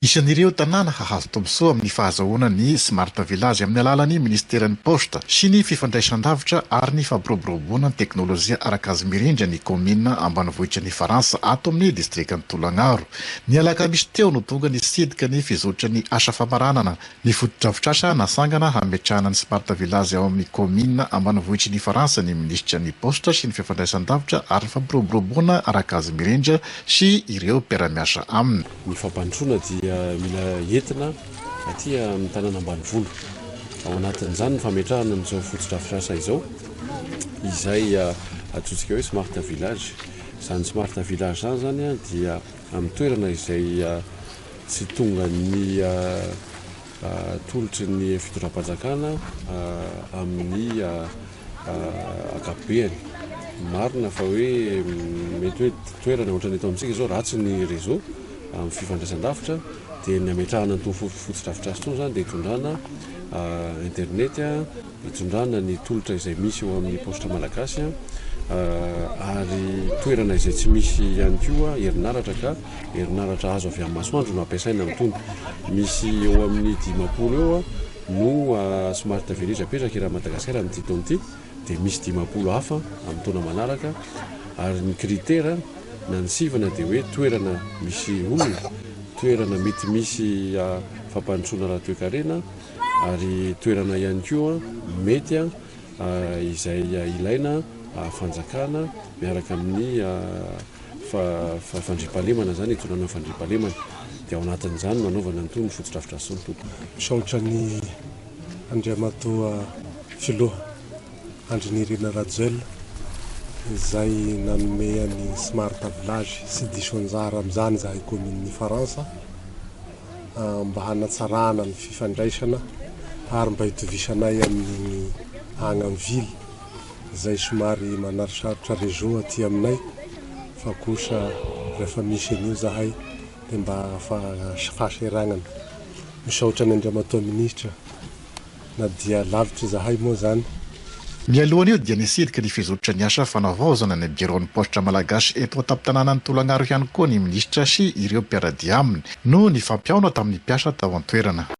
Isan'ireo tanàna hahazo tombontsoa amin'ny fahazahoana ny Smart Village amin'ny alalan'ny Minisiteran'ny Paositra sy ny Fifandraisandavitra ary ny Fampiroboroboana ny Teknolojia Arakazy Mirindra ny kaominina ambanivohitra ny Faransa ato amin'ny distrikan'i Tolagnaro. Ny alakamisy teo no tonga nisidika ny fizotran'ny asa famaranana ny fotodrafitrasa nasangana hametrahana ny Smart Village ao amin'ny kaominina ambanivohitry ny Faransa ny Minisitra ny Paositra sy ny Fifandraisandavitra ary ny Fampiroboroboana Arakazy Mirindra sy ireo mpiara-miasa aminy. Ny fampandrosoana dia mila entina aty amin'ny tanàna ambanivolo. Ao anatin'izany ny fametrahana an'izao fotodrafitrasa izao, izay antsointsika hoe smart village. Izany smart village izany izany dia amin'ny toerana izay tsy tongan'ny. atolotry ny fitondram-panjakana amin'ny ankapobeany. Marina fa hoe mety hoe toerana ohatran'ny eto amintsika izao ratsy ny réseau amin'ny fifandraisan-davitra dia ny hametrahana an'itony fotodrafitrasa itony izany dia hitondrana internet Atondrana ny tolotra izay misy eo amin'ny paositra malagasy ary toerana izay tsy misy ihany koa herinaratra ka herinaratra azo avy amin'ny masoandro no ampiasaina amin'itony. Misy eo amin'ny dimampolo eo no smart village apetraka eran'i Madagasikara amin'ity taona ity dia misy dimampolo hafa amin'ny taona manaraka ary ny critère na ny sivana dia hoe toerana misy olona, toerana mety misy fampandrosoana ara-toekarena, ary toerana ihany koa mety izay ilaina fanjakana miaraka amin'ny fandriampahalemana izany hitondrana fandriampahalemana dia ao anatin'izany no anaovana an'itony ny fotodrafitrasa itony tompoko. Misaotra an' Andriamatoa Filoha Andry Nirina Rajoelina izay nanome an'i Smart Village sy diso anjara amin'izany izahay Kaominin'i Ifaransa. mba hanatsarana ny fifandraisana ary mba hitovisanay amin'iny agny am ville zay somary manarosarotra réseau aty aminay fa kosa refa misy an'io zahay de mba fa fahaseragnana. Misaotra an'Andriamatoa Ministra. Na dia lavitra izahay moa izany. Mialohan' io dia nisidika ny fizotry ny asa fanavaozana ny biraon'ny paositra malagasy eto an-tampon-tanànan'i Tolagnaro ihany koa ny minisitra sy ireo mpiara-dia aminy, noho ny fampihaona tamin'ny mpiasa tao an-toerana.